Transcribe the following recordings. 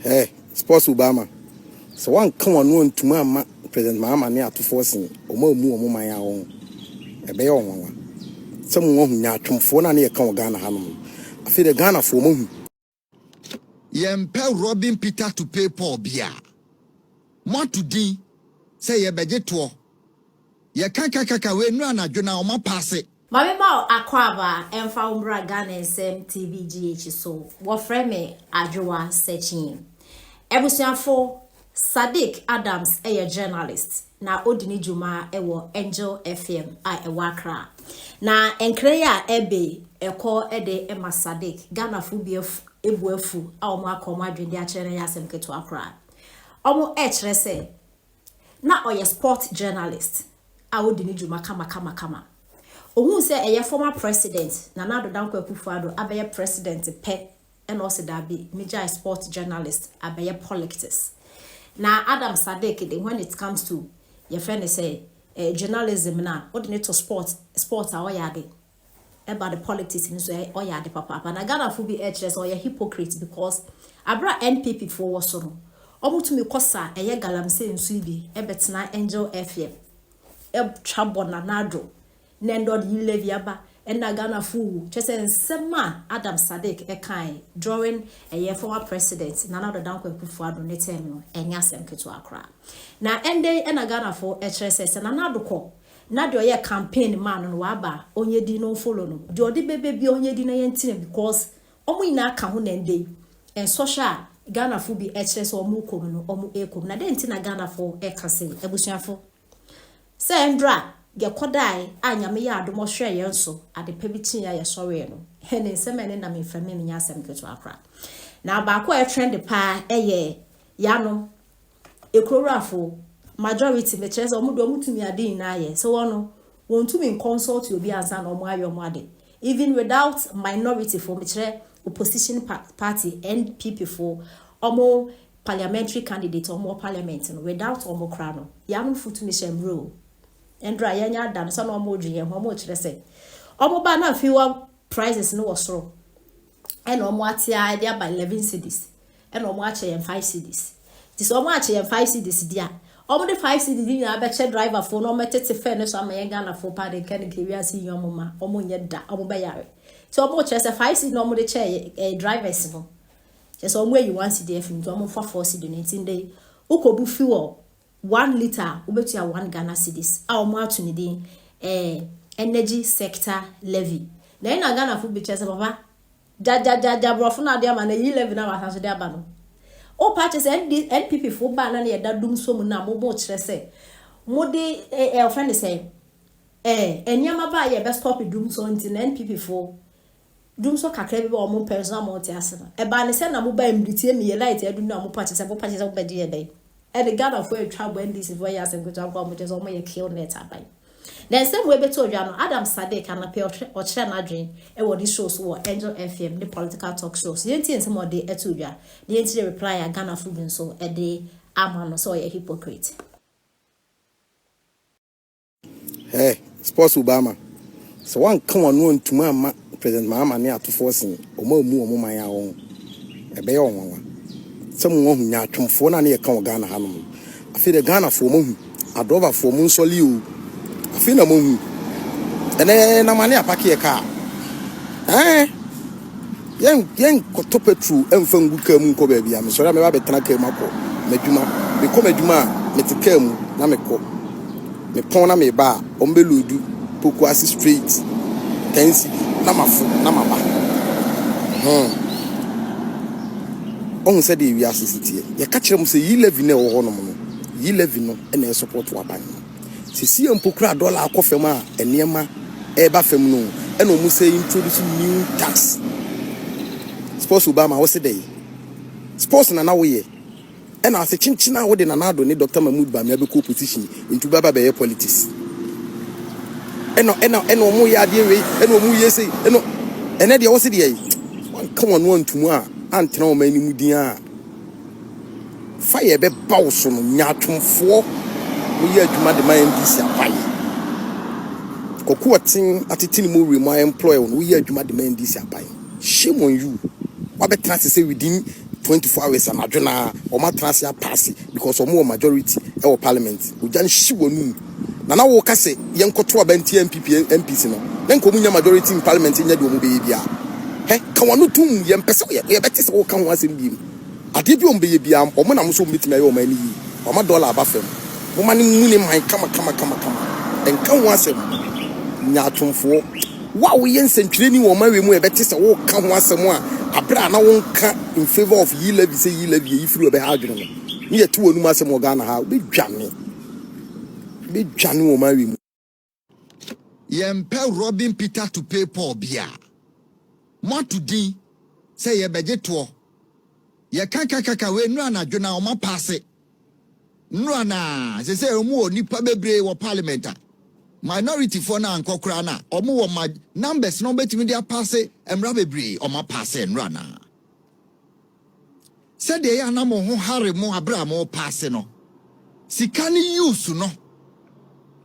Hɛɛ, Sports Obama, sɛ woanka w'ano antumi amma President Mahama ne atofoɔ se wɔn ammu wɔn man ara wɔn, ɛbɛyɛ wɔn nwanwa. Sɛ mo wahu nyaatwomfoɔ no a na yɛka wɔ Ghana hanom no, afei deɛ Ghanafoɔ moahu. Yɛmpɛ Robin Peter to pay Paul biaa. Moato din sɛ yɛbɛgye toɔ. Yɛka kakaka wei nnura anadwo no a wɔapaase. Ma me ma wo akwaaba ɛmfa wo mbra Ghana nsɛm TV GH so wɔfrɛ me Adwoa Sekyee Abusuafo Sadiq Adams yɛ journalist na odi ne dwuma wɔ Angel FM a ɛwɔ Accra Na nkra yi a ɛbe ɛkɔ de ma Sadiq Ghanafo bi bu afu a wɔn aka wɔn adwene de akyerɛ no ɛyɛ asɛm ketewa koraa Wɔn kyerɛ sɛ Na ɔyɛ sport journalist a odi ne dwuma kamakamakama. Ohuu sɛ ɛyɛ former president Nana Addo Dankwa Akufo-Addo abɛyɛ president pɛ na ɔse dabi megyae sport journalist abɛyɛ polictics. Na Adam Sadiq de when it comes to yɛfrɛ no sɛ journalism no a wode no to sport sport a ɔyɛ ade. ɛba ne politics no so ɔyɛ ade papaapa na Ghana fo bi ɛkyerɛ sɛ ɔyɛ hypocrite because aberɛ a NPP foɔ wɔ so no ɔmo tumi kɔ sa ɛyɛ galamsey nso yi bi ɛbɛtena Angel FM ɛtwa bɔ Nana Addo na ɛnɛ ɔde yi levy aba ɛna Ghana fo wu kyerɛ sɛ nsɛm a Adams Sadiq ɛkaeɛ during ɛyɛ former president Nana Addo Dankwa Akuffo Addo ne term no ɛnyɛ asɛm ketewa koraa na ɛnɛ yi ɛna Ghana fo ɛkyerɛ sɛ sɛ Nana Addo kɔ Na deɛ ɔyɛ campaign maa no no waba a ɔnyɛ din na ɔnfollow no deɛ ɔde bɛbɛ biara ɔnyɛ din na yɛntena mu cos wɔn nyinaa ka ho na ɛndɛ yi nsɔhwɛ a Ghanafoɔ bi ɛkyerɛ sɛ wɔn rekɔ mu no wɔn rekɔ mu na dɛn nti na Ghanafoɔ ɛka sei abusuafo sɛ ɛndra yɛkɔdae a Nyame yɛ adom ɔhwɛɛ yɛn so adepa bi kyeeɛ a yɛsɔree no ne nsɛm a ɛne nam mframa mu nyɛ asɛm ketewa koraa na baako a ɛtrɛnde paa ɛyɛ yɛanom Ekuroraafo, majority, mekyerɛ sɛ wɔn deɛ wɔn tumi ade nyinaa yɛ, sɛ wɔn no, wɔn tumi nkɔnsɔlte obi ansa na wɔn ayɛ wɔn ade, even without minority fo, mekyerɛ opposition party, NPP fo, wɔn parliamentary candidate a wɔn wɔ parliament no, without wɔn koraa no, yɛanom fo tumi hyɛ mmrɛ o. Ɛndrɛ a yɛanya ada no, sɛ na wɔn redwen yɛn ho, wɔn rekyerɛ sɛ, wɔn ba na afei wa. Prices no wɔ soro ɛna ɔmo ate ara de aba eleven cedis ɛna ɔmo akyɛ yɛn five cedis nti sɛ ɔmo akyɛ yɛn five cedis deɛ a ɔmo de five cedis no nyinaa bɛkyɛ driver foɔ na ɔmo bɛtete fare no so ama yɛn Ghana foɔ paa deɛ nka ne nka wiase yi ɔmo ma ɔmo nyɛ da ɔmo bɛyare nti ɔmo kyerɛ sɛ five cedis na ɔmo de kyɛ yɛ ɛyɛ drivers no kyerɛ sɛ ɔmo ayi one cedi afi mu nti ɔmo nfa four cedi no nti ndɛ yi wokɔbu fuel One litre a wobetua one Ghana cedis a wɔn ato ne din ɛɛ energy sector levy. Na ɛna Ghanafo betua sɛ papa gyagyagyaagya aborɔfo no ade ama no eyi levy no a wɔasan so de aba no. O paa kyɛ sɛ ND NPP fo baa na ne yɛ da dum so mu no a mo mo kyerɛ sɛ mo de ɛɛ ɛɛ ɔfrɛ ne sɛn ɛɛ nneɛma baa yɛ bɛ stop dum so nti na NPP fo Dum so kakra bi bɛ wɔn pɛ nso na wɔn te ase no. Ɛbaa ne sɛ na mo ba mmiri tie mmie light adu no na wɔn pakyɛ sɛ mo pakyɛ sɛ mo bɛgye yɛ dɛn? Ɛne Ghana foɔ atwa abɔ NDC foɔ yɛ asɛm ketewa nko a wɔn kyɛ sɛ wɔn yɛ kill net aban. Na nsɛm wei bɛtɔ odwa no Adam Sadiq anapɛ ɔhwɛ ɔkyerɛ n'adwen ɛwɔ ne show so wɔ Angel FM ne political talk show so yɛntie nsɛm a ɔde ɛto odwa na yɛnkyerɛ reply a Ghana foɔ bi nso ɛde ama no sɛ ɔyɛ hypocrite. Hey, sports Obama, sɛ wanka wano antumi amma President Mahama ne atofoɔ sin, wɔn a wɔmu wɔn man a wɔn ho, ɛbɛyɛ wɔn nwanwa. Sɛ mo wahu nyaatwomfoɔ no a ne yɛka wɔ Ghana hanom no. Afei deɛ Ghanafoɔ moahu, adrɔbafoɔ mo nsɔle oo. Afei na moahu. Ɛnɛ na mane apake yɛ kaa. Ɛɛn. Yɛn yɛnkɔtɔ petrol mfa ngu kaa mu nkɔ baabiara. Mesɔre a mɛba abɛtena kaa mu akɔ m'adwuma. Mekɔ m'adwuma a, mete kaa mu na mekɔ. Mepɔn na meba a, wɔbɛloodu Pokuase straight, ten cedi, na mafo na maba. Hmm. Ɔhu sɛdeɛ wiase si teɛ. Yɛka kyerɛ mo sɛ yi levy no a ɛwɔ hɔnom no, yi levy no na ɛsɔpɔto aban no. Sesie mpo koraa dollar akɔ fam a nneɛma reba fam no na wɔn sɛ introduce new tax. Sports Obama wo se dɛn? Sports na na wo yɛ ɛna ase kyenkyen a wo de Nana Addo ne Doctor Mahmood Bamia bɛkɔ opposition nti wo bɛba bɛyɛ politics ɛna ɛna ɛna wɔn yɛ adeɛ wei ɛna wɔn yɛ sei ɛna ɛnɛ deɛ wo se deɛ wɔn ka wɔn antum a antena wɔn anim din a Fire ɛbɛba wo so no nyaatwomfoɔ mo yɛ adwuma de ma NDC apaeɛ Kwaku ɔten atete ne mowere mu a employ wo no wo yɛ adwuma de ma NDC apaeɛ shame on you wabɛtena ase sɛ within 24 hours anadwo no ara wɔn atena ase apaase because wɔn wɔ majority ɛwɔ parliament ogya nhye w'anum. Na na woka se yɛn kɔto aba ntia NPP MPs no, na nka wɔn nnya majority in parliament nyɛ deɛ wɔn bɛyɛ biara. Hɛ, ka w'ano tom, yɛn mpɛ sɛ yɛ bɛte sɛ woka ho asɛm biem. Adeɛ biara wɔn bɛyɛ biara, wɔn na wɔn sɛ wɔn bɛtumi ayɛ ɔman no yie. Wɔama dollar aba fam. Moma no mmu ne man kama kama kama kama. Nka ho asɛm. Nyaatwomfoɔ. Wo a woyɛ nsɛntwerɛni wɔ ɔman wei mu a ɛbɛte sɛ woka ho asɛm a aberɛ a na wonka in favour of yi levy sɛ yi levy yɛ yi firi hɔ bɛha adwene no, ne yɛte w'anom asɛm wɔ Ghana ha a, wobɛdwane. Bɛdwane wɔn awe mu. Yɛmpɛ Robin Peter to pay Paul biaa. Moato din sɛ yɛbɛgye toɔ. Yɛka kakaka wei nnora anadwo no a wɔn apaase. Nnora no a sesei wɔn wɔ nnipa bebree wɔ parliament a minority foɔ no ankɔ koraa no a wɔn wɔ numbers na wɔbɛtumi de apaase mmra bebree wɔn apaase nnora no a. Sɛdeɛ ɛyɛ a na mo ho hare mo berɛ a morepaase no, sika no use no,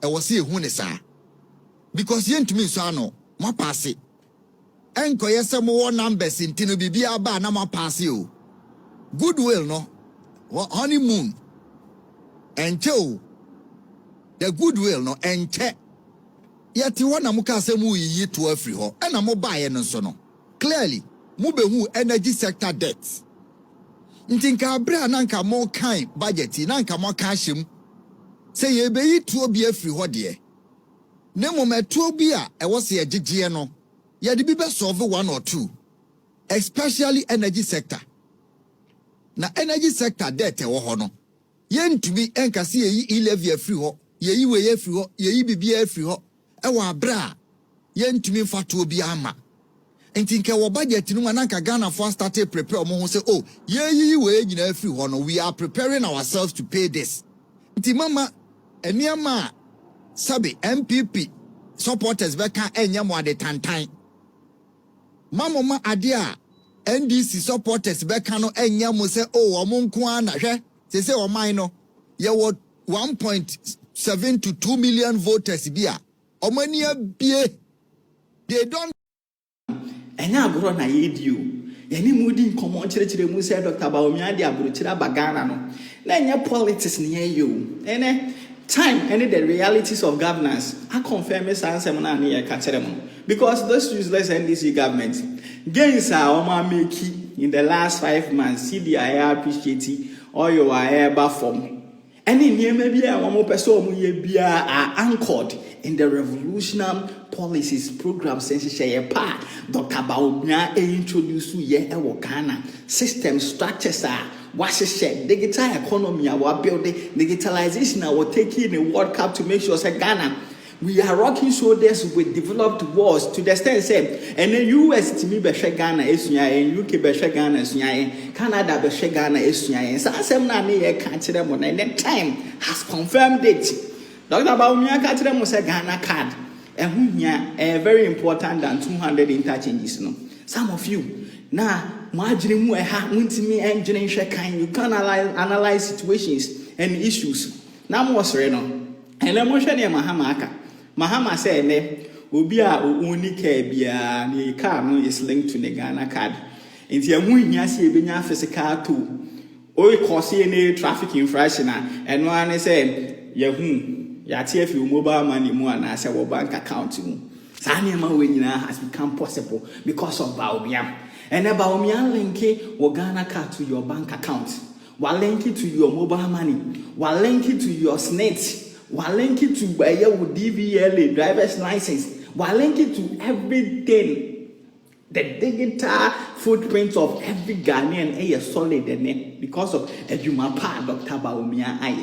ɛwɔ sɛ yɛhu no saa because yɛntumi nsɔ ano. Moapaase. Ɛnkɔyɛ sɛ mowɔ numbers nti no biribiara ba a na moapaase o. Goodwill no, honeymoon, ɛnkyɛ o. The goodwill no, ɛnkyɛ. Yɛte hɔ na mokaa sɛ moreyiyi toɔ afiri hɔ, ɛnna mobaeɛ no nso no. Clearly mo behuu energy sector debt nti nka bere a na nka mo kan budget yi na nka mo aka ahyɛ mu sɛ yɛrebeyi tuo bi afiri hɔ deɛ na mmom ɛtuo bi a ɛwɔ sɛ yɛgyegyeɛ no yɛde bi bɛ solve one or two especially energy sector na energy sector debt ɛwɔ hɔ no yɛntumi nka sɛ yɛyi e-levy afiri hɔ yɛyi wei afiri hɔ yɛyi biribiara afiri hɔ wɔ aberɛ a yɛntumi mfa toɔ biara mma. Nti nka ɛwɔ budget no mu a na nka Ghanafoɔ astate reprepare wɔn ho sɛ oh yɛreyiyi wei nyinaa afiri hɔ no, we are preparing ourselves to pay this. Nti momma nneɛma a sɛbe NPP supporters bɛka nyɛ mo ade tantan. Mma momma adeɛ a NDC supporters bɛka no nyɛ mo sɛ oh wɔn nko ara na, hwɛ seesei ɔman no yɛwɔ. one point seven to two million voters bi a wɔn ani abue they don't. Ɛnyɛ agorɔ na yɛredi o. Yɛne mo redi nkɔmmɔ nkyerɛkyerɛ mu sɛ Doctor Bawumia de aburokyire aba Ghana no. Na ɛnyɛ politics na yɛreyɛ o. Ɛnɛ, time ne the realities of governance akɔnfɛme saa nsɛm no a na yɛreka kyerɛ mo no. Because this useless NDC government, gains a wɔameki in the last five months, cedi a ɛyɛ appreciate, oil a ɛreba fam, ne nneɛma bi a wɔpɛ sɛ wɔyɛ biara are anchored in the revolutionam policies, programmes, nhyehyɛeɛ pa a Dɔkta Bawumia introduceeɛ wɔ Ghana, systems, structures a wɔahyehyɛ, digital economy a wɔabuilde, digitalisation a wɔtakii ne World Cup to make sure sɛ Ghana We are rocking shoulders with developed worlds to the extent sɛ ɛnɛ US tumi bɛhwɛ Ghana asua yɛn, UK bɛhwɛ Ghana asua yɛn, Canada bɛhwɛ Ghana asua yɛn. Saa asɛm no a ne yɛ ka kyerɛ mo no ɛnɛ time has confirmed it. Doctor Bawumia ka kyerɛ mo sɛ Ghana card ɛho hia ɛyɛ very important than 200 interchanges no. Some of you na mo adwene mu ɛha, mo ntumi ɛndwene nhwɛ kan, you can't analyze, analyze situations and issues. Na mo sere no. Ɛnnɛ monhwɛ neɛ Mahama aka. Mahama sɛ ɛnnɛ obi a o onni car biara ne car no is linked to ne Ghana card. Nti ɛho nhia sɛ yɛbɛnya physical tow. O cause any traffic infraction a, ɛno ara ne sɛ yɛahu, yɛate afi wo mobile money mu anaa sɛ wɔ bank account mu. Saa nneɛma wei nyinaa has become possible because of Bawumia. Ɛnnɛ Bawumia linke wo Ghana card to your bank account. Wa link it to your mobile money, wa link it to your snit, wa link it to ɛyɛ wo DVLA, driver's license, wa link it to everything. The digital footprint of every Ghanaian ɛyɛ solid ɛnɛ because of adwuma pa a Doctor Bawumia ayɛ.